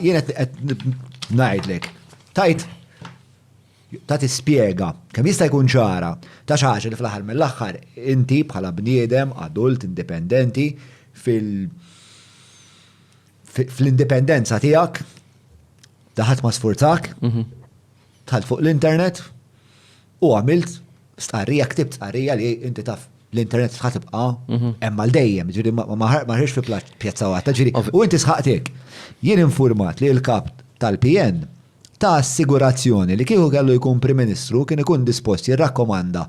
Jien qed ngħidlek, tajt ta' tispjega kemm jista' jkun ċara ta' xi ħaġa li fl-aħħar mill-aħħar inti bħala bniedem adult indipendenti fil fl-indipendenza tiegħek daħat ma sfurzak, mhm. tħalt fuq l-internet, U għamilt stqarrija, ktibt stqarrija li inti taf l-internet sħat tibqa' mhm. hemm għal dejjem, ġiri ma ħarġx fi pjazza waħda, ġiri u inti sħaqtek. Jien informat li l-kap tal-PN ta' assigurazzjoni li kieku kellu jkun Prim Ministru kien ikun dispost jirrakkomanda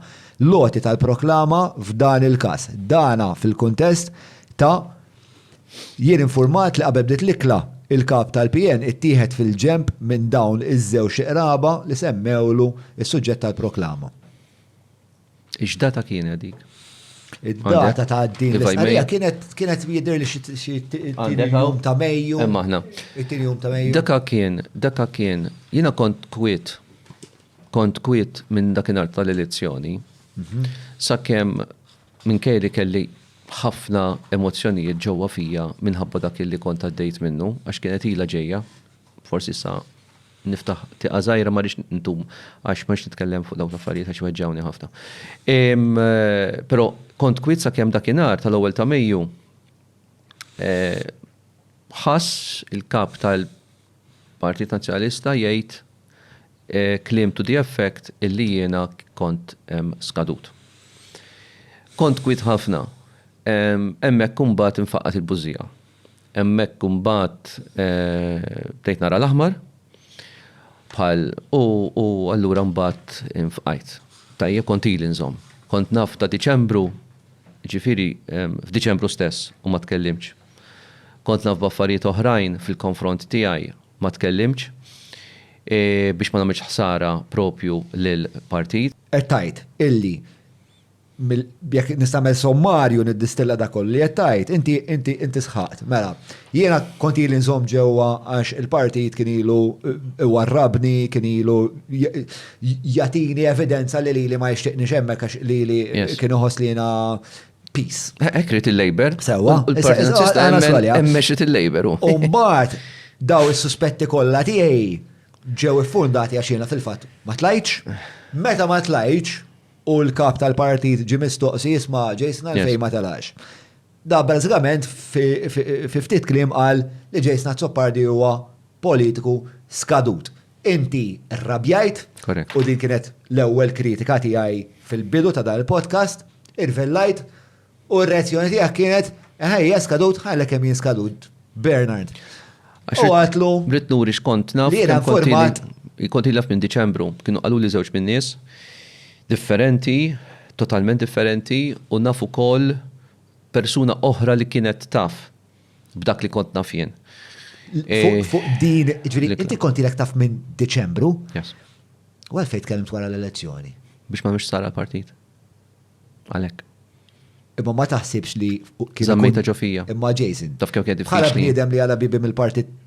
loti tal-proklama f'dan il-każ. Dana fil-kuntest ta' Jien infurmat li qabel bdiet l-ikla, il-Kap tal-PN ittieħed fil-ġenb minn dawn iż-żewġ iqraba li semmewlu s-suġġett tal-proklama. X'data kienet dik? Id-data ta' din l-istqarrija kienet jidhirli xi t-tieni jum ta' Mejju. Hemm aħna. It-tieni jum ta' Mejju. Daka kien, daka kien, jiena kont kwiet, kont kwiet minn dakinhar tal-elezzjoni, sakemm Minkejja li kelli ħafna emozzjonijiet ġewwa fija minħabba dak li kont għaddejt minnu, għax kienet ilha ġejja, forsi issa niftaħ tieqa żgħira ma rridx ndum għax ma rridx nitkellem fuq dawk l-affarijiet għax iweġġgħuni ħafna. Però kont kwiet sakemm dakinhar tal-ewwel ta' Mejju ħass il-kap tal-. Partit Nazzjonalista jgħid kliem to the effect illi jiena kont skadut. Kont kwiet ħafna. Hemmhekk imbagħad infaqqgħet il-bużżija. Hemmhekk imbagħad bdejt nara l-aħmar bħal u allura imbagħad infqajt. Tajjeb kont ili nżomm. Kont naf ta' Diċembru, jiġifieri f'Diċembru stess u ma tkellimtx. Kont naf b'affarijiet oħrajn fil-konfront tiegħi, ma tkellimtx biex ma nagħmilx ħsara proprju lill-partit. Qed tgħid illi jekk nista' nagħmel sommarju niddistilla dak kollu li qed tgħid, inti inti sħaqt, mela, jiena kont ili nżomm ġewwa għax il-partit kien ilu iwarrabni, kien ilu jagħtini evidenza li lili ma jixtieqnix hemmhekk għax lili kien iħoss li jiena peace. Hekk rid il-Labor. Sewwa. Il-Partit Nazzjonalista hemm mexxit il-Labor. U mbagħad daw is-suspetti kollha tiegħi ġew iffundati għax jiena fil-fatt ma tlajtx. Meta ma tlajtx u l-kap tal-partit ġi mistoqsi jisma' Jason għalfejn ma telax. Da bażikament fi ftit kliem qal li Jason Azzopardi huwa politiku skadut. Inti rrabjajt. Correct. U din kienet l-ewwel kritika tiegħi fil-bidu ta' dan il-podcast, irvellajt u r-reazzjoni tiegħek kienet ħajja skadut ħalek kemm jien skadut. Bernard. U għatlu. Brit nuri xkont naf. Li format. Kont ilaf minn Diċembru, kienu qalu li żewġ minn nies differenti, totalment differenti u nafu kol persuna oħra li kienet taf b'dak li kont naf jien. Fuq din, ġviri, inti kont ilek taf minn Deċembru? Yes. U għalfej tkellimt wara l-elezzjoni? Biex ma mhux sara l-partit. Għalek. Imma ma taħsibx li. Zammejta ġofija. Imma Jason. Taf kemm kien diffiċli. Bħala bniedem li għala bibi mill-partit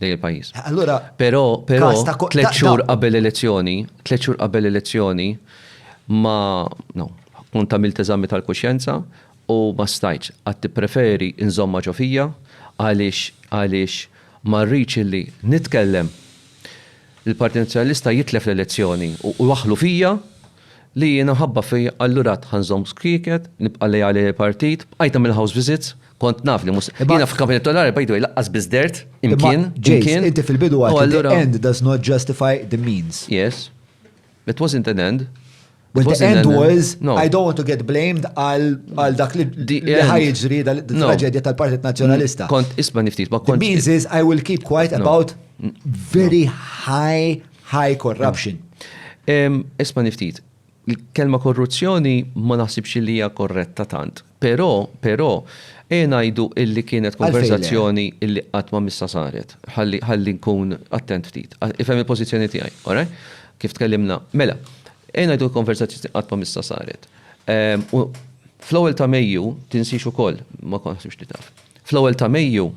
lejn il-pajjiż. Allura, però però tliet xhur qabel elezzjoni, tliet xhur qabel elezzjoni ma no, kont għamilt eżami tal-kuxjenza u ma stajtx għad tippreferi nżommha ġo fija għaliex għaliex ma rridx illi nitkellem il-Partit Nazzjonalista jitlef l-elezzjoni u waħħlu fija Li jiena ħabba fija allura għad ħa nżomm skieket, nibqa' leali lill-partit, bqajtha mill-house visits, kont naf li mhux se, jiena fil-kampanja elettorali by the way laqqas biss dehrt imkien, imkien, u allura. Yes. It wasn't an end. Well the end was, I don't want to get blamed għal dak li ħa jiġri, traġedja tal-Partit Nazzjonalista. Kont ismagħni ftit, ma kontx. The means is I will keep quiet about very high High corruption. Isma niftit, kelma korruzzjoni ma naħsibx li hija korretta tant. Però, però, e ngħidu illi kienet konversazzjoni illi qatt ma missa saret. Ħalli nkun attent ftit. Ifhem il-pożizzjoni tiegħi, ora? Kif tkellimna. Mela, e ngħidu konversazzjoni qatt ma missa saret. Fl-ewwel ta' Mejju, tinsix ukoll, ma konħsibx li taf. Fl-ewwel ta' Mejju,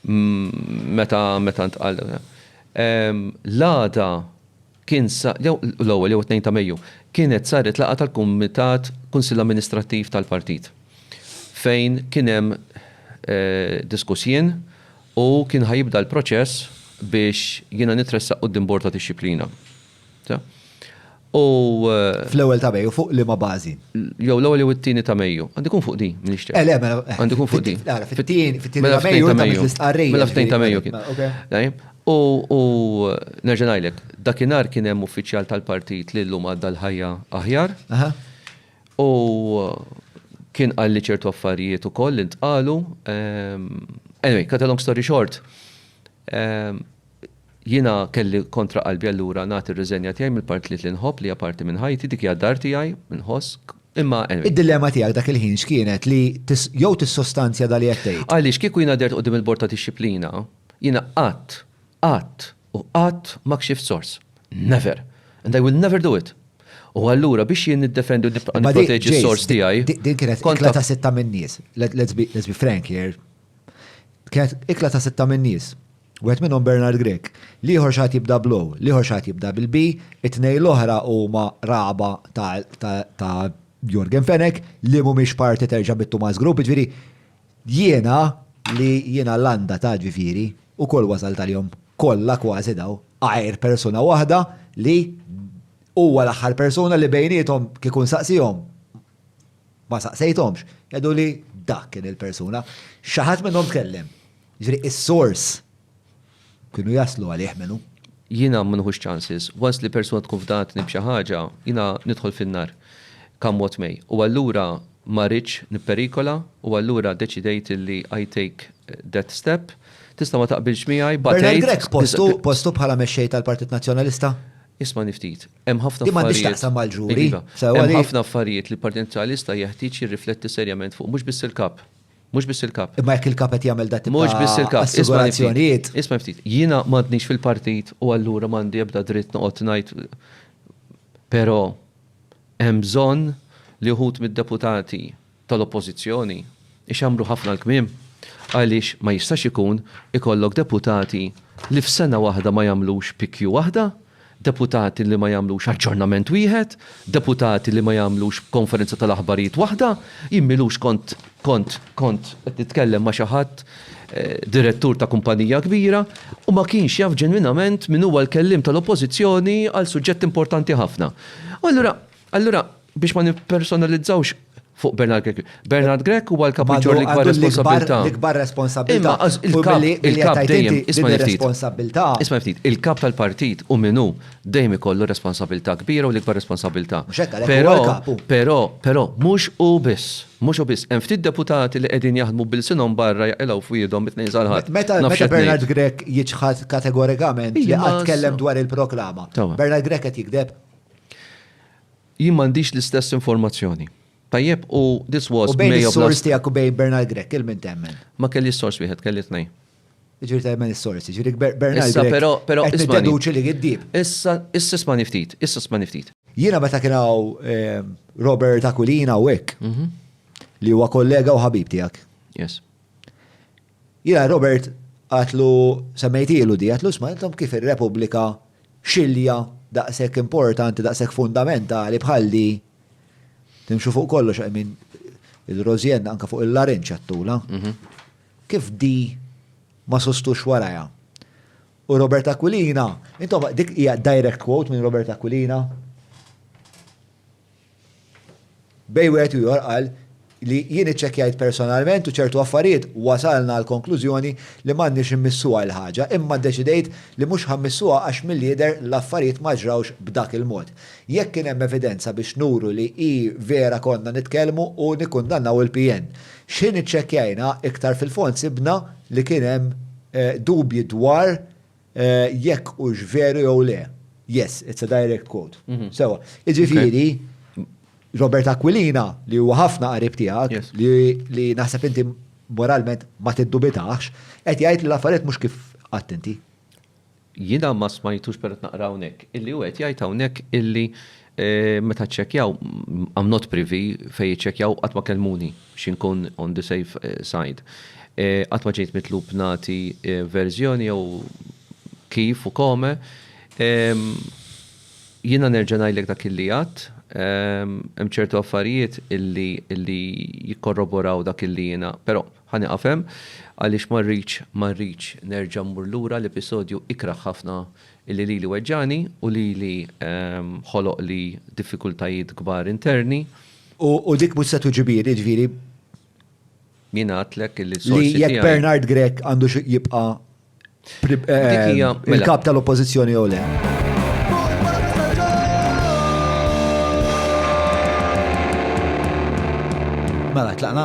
Meta meta ntqal l-għada kien sa jew l-ewwel jew it-Tnejn ta' Mejju, kienet saret laqgħa tal-Kumitat Kunsill Amministrattiv tal-Partit fejn kien hemm diskuss jien u kien ħa jibda l-proċess biex jiena nitressaq quddiem Bord ta' Dixxiplina. Fl-ewwel ta' Mejju fuq liema bażi? Jew l-ewwel jew it-tieni ta' Mejju. Għandu jkun fuq din, m'iniex ċert. Eh, le, mela. Għandu jkun fuq din. Ara, fit-tieni, fit-tieni ta' Mejju ta' Mejju. Mela fit-tieni ta' Mejju kien. U nerġa' ngħidlek, dakinhar kien hemm uffiċjal tal-partit li llum għadda l-ħajja aħjar. U kien qalli ċertu affarijiet ukoll li ntqalu. Anyway, cut a long story short, Jiena kelli kontra qalbi allura nagħti r-riżenja tiegħi mill-partit li nħobb li hija parti minn ħajti, dik hija d-dar tiegħi, inħoss, imma anyway. Id-dilemma tiegħek dak il-ħin x'kienet li jew tissostanzja dak li qed tgħid. Għaliex kieku jiena qdert quddiem il-Bord ta' Dixxiplina, jiena qatt, qatt u qatt ma kxift sors. Never! And I will never do it! U allura biex jien niddefendi u nibqa' nipproteġi s-sors tiegħi. Din kienet ikla ta' sitta min-nies. Let's be frank here. Kienet ikla ta' sitta min-nies. Wieħed minnhom Bernard Grech. L-ieħor xi ħadd jibda bl-O, l-ieħor xi ħadd jibda bil-B, it-tnejn l-oħra huma ragħba ta' Yorgen Fenech li mhumiex parti terġa' mit-Thomas Group, jiġifieri jiena li jiena l-għanda ta' ġifieri ukoll wasalt għalihom kollha kważi daw għajr persuna waħda li huwa l-aħħar persuna li bejniethom kieku nsaqsihom Ma saqsejthomx, għeduli dak kien il-persuna. Xi ħadd minnhom tkellem. Jiġifieri is-sors kienu jaslu għalih min hu. Jiena ma nieħux chances. Once li persuna tkun fdatni b'xi ħaġa, jiena nidħol fin-nar come what may. U allura ma ridtx nipperikola u allura ddeċidejt illi I take that step. Tista' ma taqbilx miegħi, batejt. Bernard Grech postu bħala mexxej tal-Partit Nazzjonalista? Ismagħni ftit. Hemm ħafna Di m'għandhiex affarijiet. taqsam mal-ġuri. Iva. Sewa Hemm li- ħafna affarijiet li l-Partit Nazzjonalista jeħtieġ jirrifletti serjament fuq mhux biss il-kap. Mhux biss il-kap. Imma jekk il-kap qed jagħmel dat tip Mhux biss ta' il-kap. Isma' li ftit. assigurazzjonijiet. Isma' li ftit. Jiena m'għadnix fil-partit u allura m'għandi ebda dritt noqgħod ngħid però hemm bżonn li wħud mid-deputati tal-Oppożizzjoni ixammru ħafna l-kmiem għaliex ma jistax ikun ikollok deputati li f'sena waħda ma jagħmlux PQ waħda, deputati li ma jagħmlux aġġornament wieħed, deputati li ma jagħmlux konferenza tal-aħbarijiet waħda, jien m'ilux kont kont kont qed nitkellem ma' xi ħadd direttur ta' kumpanija kbira u ma kienx jaf ġenwinament min huwa l-kelliem tal-Oppożizzjoni għal suġġett importanti ħafna. U allura Allura, biex ma nippersonalizzawx fuq Bernard Grech. Bernard Grech huwa l-kap iġġor l-ikbar responsabilità. L-ikbar responsabilità. Il-kap dejjem isma' ftit. Isma' ftit. Il-kap tal-partit u minnu dejjem ikollu responsabilità kbira u l-ikbar responsabilità. Però, però, però mhux hu biss. Mhux hu biss. Hemm ftit deputati li qegħdin jaħdmu b'ilsinhom barra jaqilgħu f'wiedhom mit-Tnejn sal-Ħadd. Meta Bernard Grech jiċħad kategorikament li qatt tkellem dwar il-proklama, Bernard Grech qed jigdeb? Jien m'għandix l-istess informazzjoni. Tajjeb, u this was May of last. U bejn is-sors tiegħek u bejn Bernard Grech, il-min temmen? Ma kelli s-sors wieħed, kelli tnejn. Ġiri tajmen il-sorsi, ġiri Bernard. Issa, pero, pero, issa. Issa, li għiddib. Issa, issa smani ftit, issa smani ftit. Jina meta kienaw ehm, Robert Aquilina u ek, mhm. li huwa kollega u ħabib tijak. Yes. Jiena Robert għadtlu, semmejtilu di, għadtlu isma' intom kif ir-Repubblika xilja daqshekk importanti, daqshekk fundamentali bħal di, timxu fuq kollox I mean il-Rosienna anke fuq il-larinġ għadtula. Kif di ma sostux warajha? U Robert Aquilina, intom dik hija direct quote minn Robert Aquilina. Bejn wieħed u ieħor qal li, Jien iċċekkjajt personalment u ċertu affarijiet wasalna għall-konklużjoni li m'għandniex immissuha l-ħaġa, imma ddeċidejt li mhux ħa mmissuha għax milli jidher l-affarijiet ma ġrawx b'dak il-mod. Jekk kien hemm evidenza biex nuru li hi vera konna nitkellmu u nikkundannaw il-PN. X'ħin iċċekkjajna iktar fil-fond sibna li kien hemm dubji dwar Jekk hux veru jew le. Yes, it's a direct quote. Sewa. Jiġifieri, Robert Aquilina, li huwa ħafna qarib tiegħek, li naħseb inti moralment ma tiddubitax, qed jgħid li l-affarijiet mhux kif għedt inti. Jiena ma smajtux, però qed naqra hawnhekk, illi hu qed jgħid hawnhekk illi Meta ċċekkjaw, I am not privy fejn iċċekkjaw qatt ma kellmuni biex inkun on the safe side. Qatt ma ġejt mitlub nagħti verżjoni jew kif u come. Jiena nerġa' ngħidlek dak illi għadt. Hemm ċertu affarijiet illi jikkorroboraw dak illi jiena, però ħa nieqaf hemm għaliex ma rridx nerġa' mmur lura l-episodju ikrah ħafna Illi lili weġġagħni u lili ħoloqli diffikultajiet kbar interni. U dik mhux se tuġibir, jiġifieri. Min għadlek illi s-sorsi tiegħi. Li jekk Bernard Grech għandux jibqa' il-kap tal-Oppożizzjoni jew le. Mela, tlaqna?